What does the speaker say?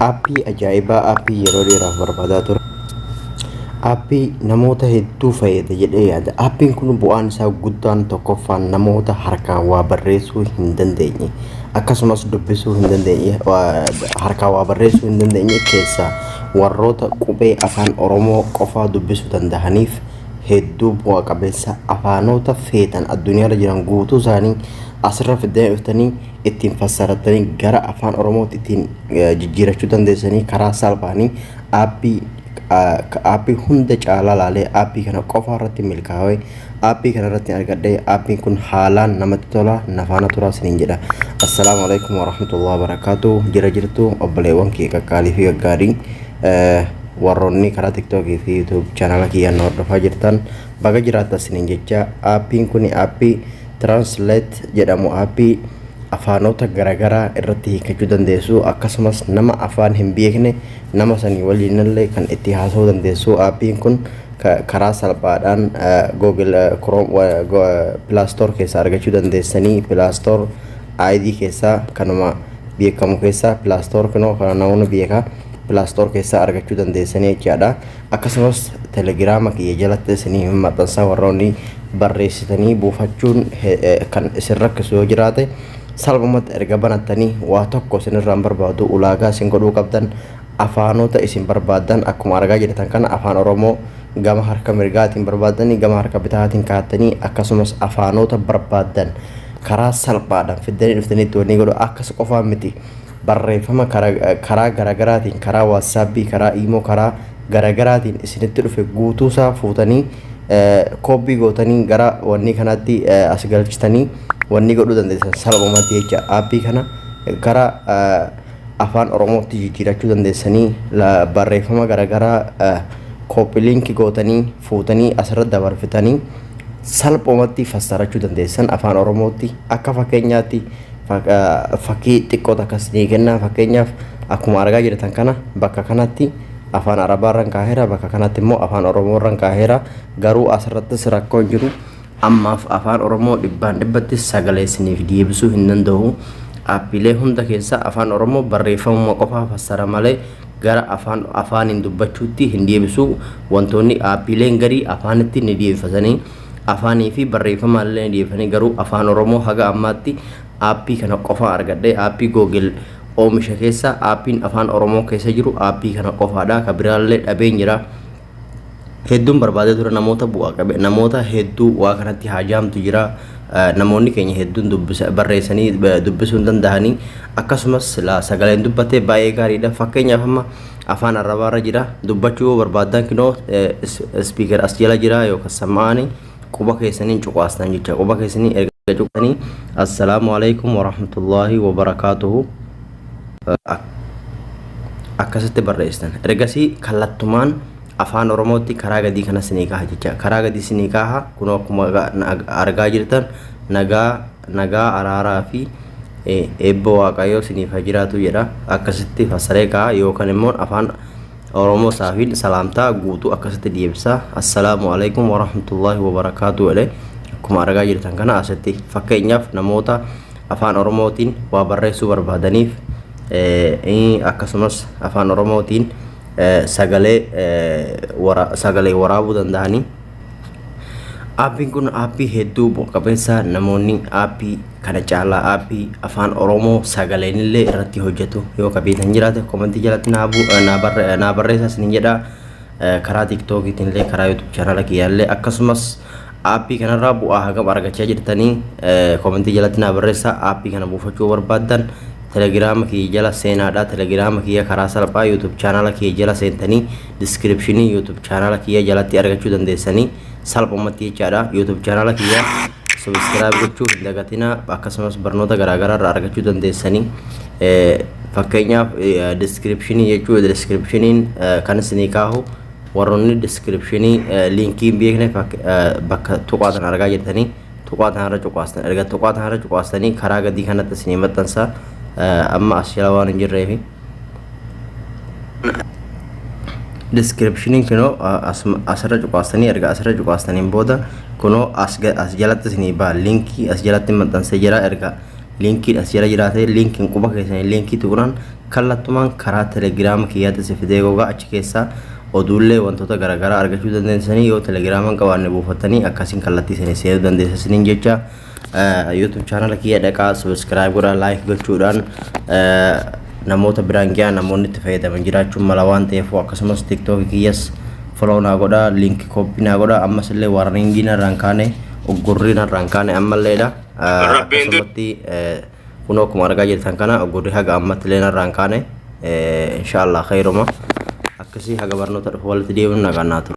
Aappii ajaa'ibaa aappii yeroo dheeraaf barbaadaa ture. Aappii namoota hedduu fayyada jedhee yaada. Aappiin kun bu'aan isaa guddaan tokkoffaan namoota harkaan waa barreessuu hin dandeenye akkasumas dubbisuu hin dandeenye harkaan waa barreessuu hin dandeenye keessaa warroota qubee afaan Oromoo qofaa dubbisuu danda'aniif hedduu bu'a qabeessa afaanota feetan addunyaarra jiran guutuu isaanii asirra fiddanii ittiin fassarattanii gara afaan oromootti ittiin eh, jijjiirachuu dandeessanii karaa salphaanii aappii ah, ka- aappii hunda caalaa laalee aappii kana qofa irratti milkaa'ee aappii kana irratti argadhee aappiin kun haalaan namatti tola nafaana turaa isiniin jedha assalaamu alaikum warahmatullahi wabarakaatu jira jirtu obboleewwan kee qaqqaalii fi gaggaarii eh, warroonni karaa tiktookii fi yuutuub chaanala kiyyaan na hordofaa jirtan baga jiraattan isiniin jecha aappiin kun aappii Translate jedhamu aappii afaanota garagaraa irratti hiikkachuu dandeessu akkasumas nama afaan hin beekne nama sanii waliinillee kan itti haasa'uu dandeessu aappiin kun ka- karaa salphaadhaan Google Chrome Play Store keessaa argachuu dandeessanii Play Store ID keessaa kanuma beekamu keessaa Play Store kunoo kana namni beeka Play Store keessaa argachuu dandeessanii jechaadha. Akkasumas telegiraama kiyya jalatti isinii hin maxxansaa warroonni barreessitanii buufachuun kan isin rakkisu yoo jiraate salphumatti erga banattanii waa tokko isinirraan barbaadu ulaagaa isin godhuu qabdan afaanota isin barbaaddan akkuma argaa jirtan kana afaan oromoo gama harka mirgaatiin barbaaddanii gama harka bitaatiin kaattanii akkasumas afaanota barbaaddan karaa salphaadhaan fiddanii dhuftaniitti wanni godhu akkas qofaa miti barreeffama karaa garagaraatiin karaa waatsaapii karaa iimoo karaa garagaraatiin isinitti dhufe guutuusaa fuutanii koopii gootanii gara wannii kanaatti as galchitanii wannii godhuu dandeessan salphumatti jecha aappii kana gara afaan oromootti jijjiirachuu dandeessanii barreeffama garagaraa koopii liinkii gootanii fuutanii asirra dabarfitanii salphumatti fassarachuu dandeessan afaan oromootti akka fakkeenyaatti fakkii xiqqoo takka isinii kennaa fakkeenyaaf akkuma argaa jirtan kana bakka kanatti afaan arabaa irran kaaheera bakka kanatti immoo afaan oromoo irran kaaheera garuu asirrattis rakkoo hin jiru ammaaf afaan oromoo dhibbaan dhibbatti sagalee isiniif deebisuu hin danda'u aappiilee hunda keessaa afaan oromoo barreeffamuma qofaa fassara malee gara afaan afaaniin dubbachuutti hin deebisu wantoonni aappiileen garii afaanitti ni deebifatanii afaanii fi barreeffamaan illee ni dhiyeeffanii garuu afaan oromoo haga ammaatti aappii kana qofaa argadhe aappii googil oomisha keessa aappiin afaan oromoo keessa jiru aappii kana qofaadha ka biraallee dhabeen jira hedduun barbaadee ture namoota bu'aa qabe namoota hedduu waa kanatti haajaamtu jira namoonni keenya hedduun dubbisa barreessanii dubbisuu hin danda'anii akkasumas silaa sagaleen dubbatee baay'ee gaariidha fakkeenyaaf amma Afaan arrabaa irra jira. Dubbachuu yoo barbaadan kinoo speaker as jala jira yookaan sammaani quba keessaniin cuqaastan jecha quba keessanii erga cuqaasanii assalaamu alaikum warahmatullaahi wabarakaatuhu akkasitti barreessitan ergasii kallattumaan afaan oromootti karaa gadii kana sinii kaha jecha karaa gadii sinii kaha kunoo akkuma argaa jirtan nagaa nagaa araaraa fi eebba waaqayyoo siniif haa jiraatu jedha akkasitti fassaree ka'a yookaan immoo afaan oromoo saafiin salaamtaa guutuu akkasitti deebisa assalaamu alaikum warahmatullaahi wabarakaatu jedhe akkuma argaa jirtan kana asitti fakkeenyaaf namoota afaan oromootiin waa barreessuu barbaadaniif akkasumas afaan oromootiin sagalee waraabuu danda'anii Aappiin kun aappii hedduu bu'a qabeessa namoonni aappii kana caalaa aappii afaan Oromoo sagaleen illee irratti hojjetu yoo ka beektan jiraate komentii jalatti naa bu- eh, naa barre- eh, naa barreessaa isinin jedha Eh, karaa tiktookiitiin illee karaa yuutuub chaanala kiyyaa illee akkasumas aappii kanarraa bu'aa hagam argachaa jirtanii eh, komentii jalatti naa barreessaa aappii kana buufachuu barbaaddan telegiraama kiyya jala seenaadha telegiraama kiyya karaa salphaa yuutuub chaanala kiyya jala seentanii description youtube channel kiyya jalatti argachuu dandeessanii salphumatti jechaadha youtube channel kiyya subscribe gochuu hin dagatinaa akkasumas barnoota garaagaraa irraa argachuu dandeessanii fakkeenyaaf description jechuu descriptioniin kan isinii kaahu warroonni descriptionii liinkii hin beekne bakka tuqaatan argaa jirtanii tuqaatan irra cuqaastan erga tuqaatan irra cuqaastanii karaa gadii kanatti isinii maxxansa amma as jala waan hin jirreefi descriptioniin kunoo asirra cuqaastanii erga asirra cuqaastaniin booda kunoo as jalatti isinii ba'a liinkii as jalatti maxxansee jira erga liinkiin as jala jiraatee liinkiin quba keessanii liinkii tuqnaan kallattumaan karaa telegiraama kiyyaatti isin fidee gogaa achi keessaa oduullee wantoota garaagaraa argachuu dandeessanii yoo telegiraaman qabaanne buufattanii akkasiin kallattii isinii seenuu dandeessisaniin jecha YouTube channel kiyya dhaqaa subscribe godhaa like gochuudhaan namoota biraan gahaa namoonni itti fayyadaman jiraachuun mala waan ta'eef akkasumas tiktok kiyyas follow naa godhaa link copy naa godhaa ammas illee warningii narraan kaane uggurrii narraan kaane ammalleedha akkasumatti kun akkuma argaa jirtan kana uggurrii haga ammatti illee narraan kaane inshaallah khayruma akkasii haga barnoota dhufu walitti deemuun nagaan naa tura.